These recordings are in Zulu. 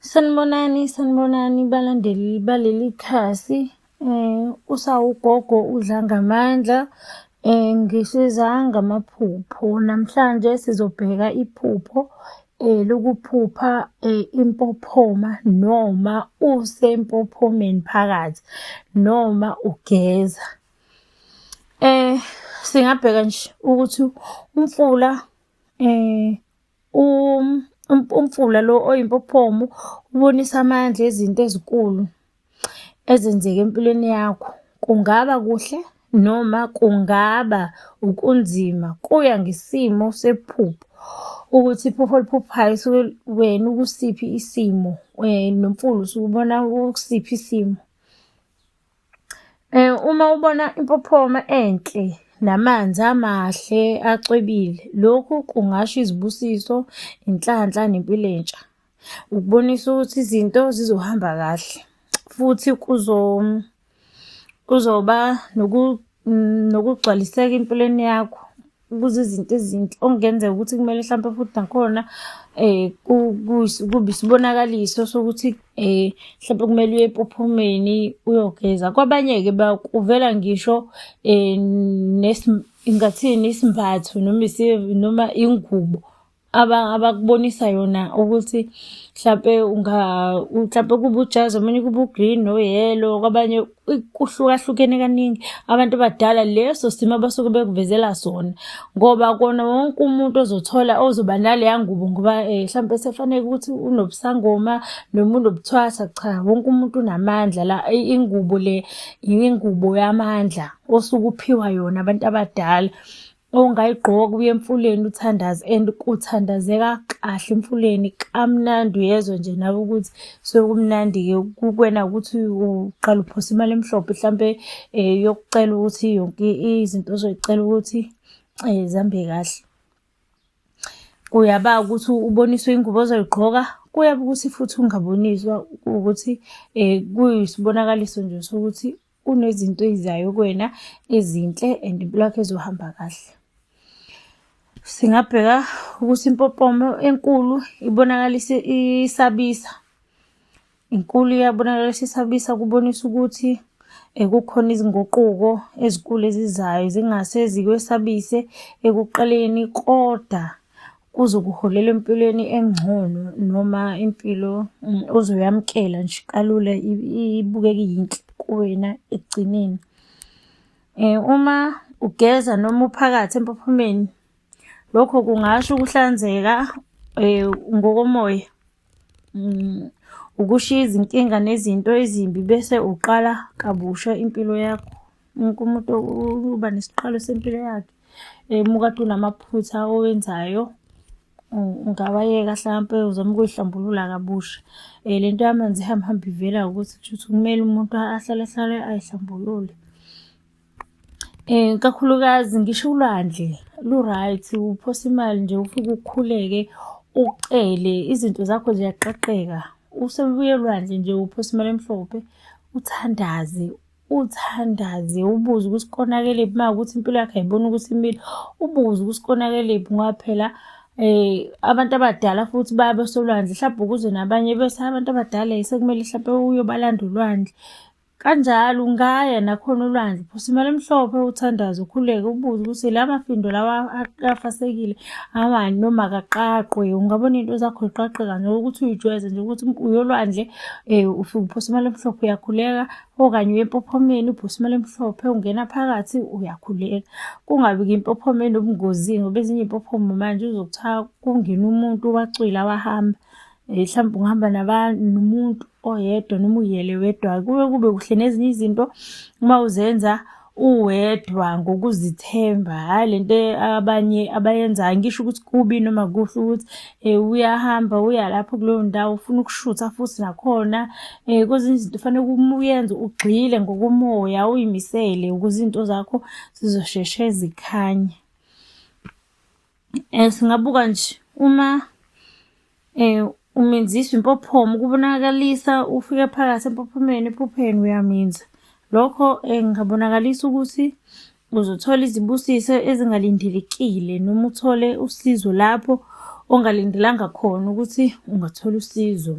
Sanibonani, sanibonani balandeli baleli khasi. Eh usawugogo udla ngamandla. Eh ngisiza ngamaphupho. Namhlanje sizobheka iphupho eh lokuphupha eh, impophoma noma usempophomeni phakathi noma ugeza. Eh singabheka nje ukuthi umfula eh umfula lo oyimpophomo ubonisa amandla ezinto ezinkulu ezenzeka empilweni yakho. Kungaba kuhle noma kungaba ukunzima kuya ngesimo sephupho ukuthi iphupho oliphuphayo usuke wena ukusiphi isimo nomfula usuke ubona ukusiphi isimo. Uma ubona impophoma enhle namanzi amahle acwebile, lokhu kungasho izibusiso, inhlanhla nempilo entsha. Ukubonisa ukuthi izinto zizohamba kahle futhi kuzoba nokugcwaliseka empilweni yakho. kuze izinto ezinti okungenzeka ukuthi kumele mhlawumpe futhi nakhona eh kubi sibonakaliso sokuthi eh mhlawumbe kumele uye ephuphumeni uyogeza kwabanye ke bakuvela ngisho eh nesingathini isimbatho noma noma ingubo abakubonisa yona ukuthi mhlampe unga mhlampe kuba ujazi omunye kuba ugreen noyellow kwabanye kuhlukahlukene kaningi abantu abadala leso simo abasuke bekuvezela sona ngoba kona wonke umuntu ozothola ozoba naleya ngubo ngoba eh, mhlampe sefanele ukuthi unobusangoma noma unobuthwasa cha wonke umuntu unamandla la ingubo le ingubo yamandla osuke uphiwa yona abantu abadala ongayigqoka uye emfuleni uthandaze and kuthandazeka kahle emfuleni kamnandi uyezwa nje nawe ukuthi sekumnandi-ke kukwena ukuthi uqala uphosa imali emhlophe mhlampe um eh, yokucela ukuthi yonke izinto ozoyicela ukuthi um zihambe kahle kuyaba ukuthi uboniswe ingubo ozoyigqoka kuyaba ukuthi futhi ungaboniswa ukuthi um kuyisibonakaliso nje sokuthi kunezinto ezizayo kuwena ezinhle and impilo yakho ezohamba kahle singabheka ukuthi impopomo enkulu ibonakalisa isabisa inkulu iyabonakalisa isabisa kubonisa ukuthi ekukhona eh, izinguquko ezikulu ezizayo zingase zikwesabise ekuqaleni kodwa kuzokuholela empilweni engcono noma impilo mm, uzoyamukela nje kalula ibukeke yinhle kuwena ekugcineni. Eh, uma ugeza noma uphakathi empophomeni, lokho kungasho ukuhlanzeka eh, ngokomoya Mm, ukushiya izinkinga nezinto ezimbi bese uqala kabusha impilo yakho wonke umuntu uba nesiqalo sempilo yakhe um ukade unamaphutha owenzayo ungawayeka hlampe uzama ukuyihlambulula kabusha um le nto yamanzi ihambe hambe ivela ukuthi kusho ukuthi kumele umuntu ahlale ahlale ayihlambulule Um kakhulukazi ngisho ulwandle lu-right, uphosa imali nje ufike ukhuleke, ucele, izinto zakho ziyaqaqeka. Usebuya olwandle nje uphosa imali emhlophe, uthandaze, uthandaze ubuze ukuthi konakelephi uma kuwukuthi impilo yakho ayiboni ukuthi imile, ubuze ukuthi konakelephi ngoba phela um abantu abadala futhi baya besolwandle hlampe ukuze nabanye bese abantu abadala sekumele hlampe uyobalanda ulwandle. Kanjalo ungaya nakhona olwandle, phosa imali emhlophe uthandaze ukhuleke ubuze ukuthi la mafindo lawa afasekile awani noma akaqaqwe. Ungabona into zakho ziqaqe kanje ukuthi uyijwayeze nje ukuthi uyolwandle eh, ufike uphosa imali emhlophe uyakhuleka okanye uye empophomeni uphosa imali emhlophe ungena phakathi uyakhuleka. Kungabi-ke impophomeni ubungozini ngoba ezinye iy'mpophomo manje uzothi kungena umuntu wacwila wahamba. Eh, mhlawumbe ungihamba nomuntu oyedwa noma uyele wedwa kube kube kuhle nezinye izinto uma uzenza uwedwa ngokuzithemba hhayi le nto abanye abayenzayo ngisho ukuthi kubi noma kuhle ukuthi um uyahamba uya lapho kuleyo ndawo ufuna ukushutha futhi nakhona um kwezinye izinto kufanele uyenze ugxile ngokomoya uyimisele ukuze izinto zakho zizosheshe zikhanye Eh singabuka nje uma eh umenziswa impophomo kubonakalisa ufike phakathi empophomeni ephupheni uyaminza lokho eh, ngabonakalisa ukuthi uzothola izibusiso ezingalindelekile noma uthole usizo lapho ongalindelanga khona ukuthi ungathola usizo.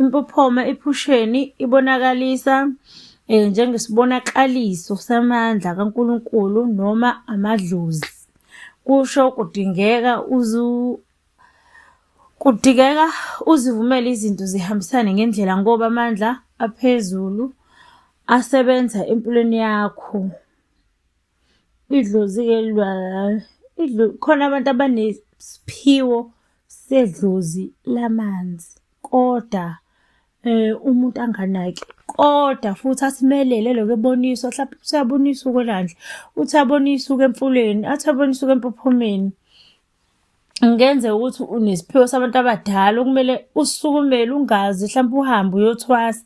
Impophoma ephusheni ibonakalisa eh, njengesibonakaliso samandla kaNkulunkulu noma amadlozi. Kusho kudingeka uzu kudingeka uzivumele izinto zihambisane ngendlela ngoba amandla aphezulu asebenza empilweni yakho. Idlozi-ke khona abantu abanesiphiwo sedlozi lamanzi koda umuntu anganaki. Koda futhi athi melele elokhu eboniswa hlampe uthi uyaboniswa ukwelwandle, uthi uyaboniswa ukuya emfuleni, athi uyaboniswa ukuya empophomeni. Kungenzeka ukuthi unesiphiwo sabantu abadala okumele usukumele ungazi hlampe uhambe uyothwasa.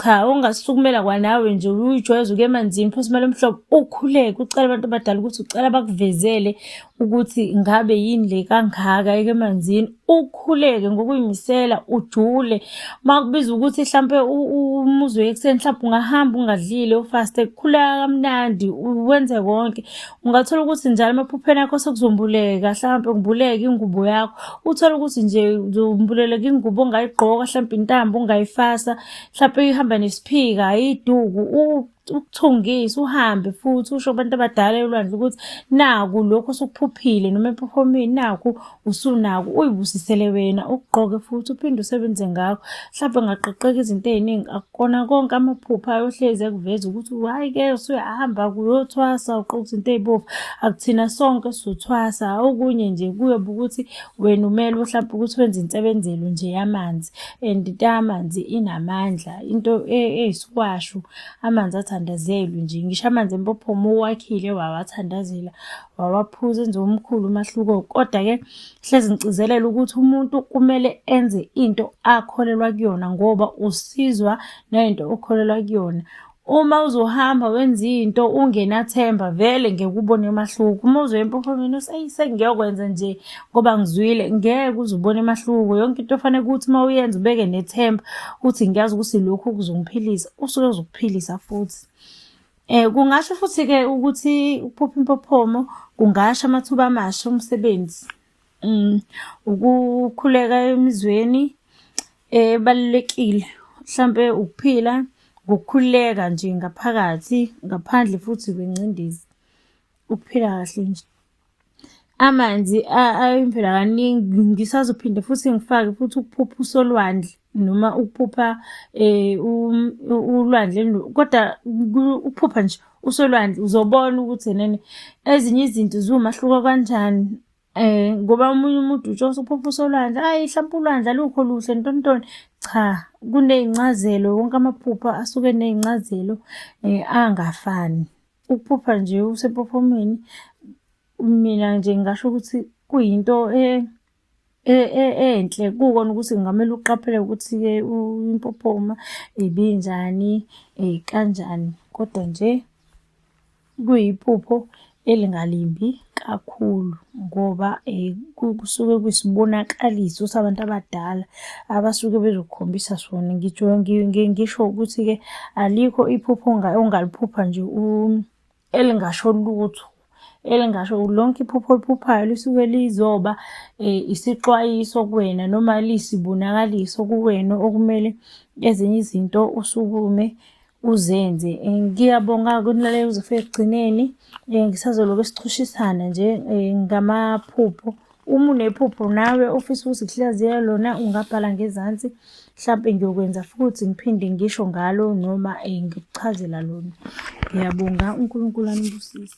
Cha ongasukumela kwanawe nje uyijwayeze ukuya emanzini phose imali omhlobo ukhuleke ucela abantu abadala ukuthi ucela bakuvezele ukuthi ngabe yini le kangaka eke emanzini. Ukhuleke ngokuyimisela ujule makubiza ukuthi hlampe umuzi uye ekuseni hlampe ungahamba ungadlile ufaste khuleka kamnandi wenze konke ungathola ukuthi njalo emaphupheni akho sekuzombuleka hlampe ngibuleke ingubo yakho uthole ukuthi nje uzombuleleka ingubo ongayigqoka hlampe intambo ungayifasa hlampe ihamba nesiphika ayiduku ukuthungisa uhambe futhi usho kubantu abadala elwandle ukuthi naku lokhu osukuphuphile noma ephofomini naku usunaku uyibusisele wena ugqoke futhi uphinde usebenze ngakho mhlawumbe ngaqoqeka izinto ey'ningi akukona konke amaphupha ayohlezi ekuveza ukuthi hhayi ke usuyahamba kuyothwasa uqoka izinto ey'bovu akuthina sonke sizothwasa okunye nje kuyobe ukuthi wena umelwe mhlawumbe ukuthi wenze insebenzelo nje yamanzi and into yamanzi inamandla into e, eyisikwashu amanzi athandazelwe nje ngisho amanzi empophoma uwakhile wawathandazela wawaphuza enze omkhulu umahluko kodwa-ke hlezi ngigcizelela ukuthi umuntu kumele enze into akholelwa kuyona ngoba usizwa nayinto okholelwa kuyona uma uzohamba wenza into ungenathemba vele ngeke ubone umahluko uma uzoya empophomeni useyi sengiyokwenza nje ngoba ngizwile ngeke uzubone umahluko yonke into ofanele ukuthi uma uyenza ubeke nethemba ukuthi ngiyazi ukuthi lokhu kuzongiphilisa usuke uzokuphilisa futhi Eh kungasho futhi ke ukuthi ukuphupha impophomo kungasho amathuba amasha omsebenzi. Mm ukukhuleka emizweni ebalekile mhlambe ukuphila ngokukhuleka nje ngaphakathi ngaphandle futhi kwengcindezi ukuphila kahle nje. Amanzi ayimvela kaningi ngisazophinde futhi ngifake futhi ukuphupha usolwandle noma ukuphupha ulwandle kodwa ukuphupha nje usolwandle uzobona ukuthi enene ezinye izinto ziwumahluko kanjani ngoba omunye umuntu utsho usuphupha usolwandle ayi hlampe ulwandle alukho luhle ntontoni cha kuney'ncazelo wonke amaphupho asuke eney'ncazelo angafani. Ukuphupha nje usepophomeni mina nje ngingasho ukuthi kuyinto eh E-, e-, enhle kukona ukuthi kungamele uqaphele ukuthi-ke impophoma ibinjani kanjani, kodwa nje kuyiphupho elingalimbi. kakhulu ngoba eh, kusuke kuyisibonakaliso sabantu abadala abasuke bezokukhombisa sona. Ngitsho ngisho ukuthi-ke alikho iphupho ongaliphupha nje elingasho lutho elingasho lonke iphupho oliphuphayo lisuke lizoba eh, isixwayiso kuwena noma liyisibonakaliso kuwena okumele ezinye izinto usukume uzenze eh, ngiyabonga kunilaleli uzofika ekugcineni um eh, ngisazoloku sichushisana nje um ngamaphupho uma unephupho nawe ofisa ukuthi kuhlaziya lona ungabhala ngezansi mhlawumpe ngiyokwenza futhi ngiphinde ngisho ngalo noma um ngikuchazela lona ngiyabonga unkulunkulu anibusise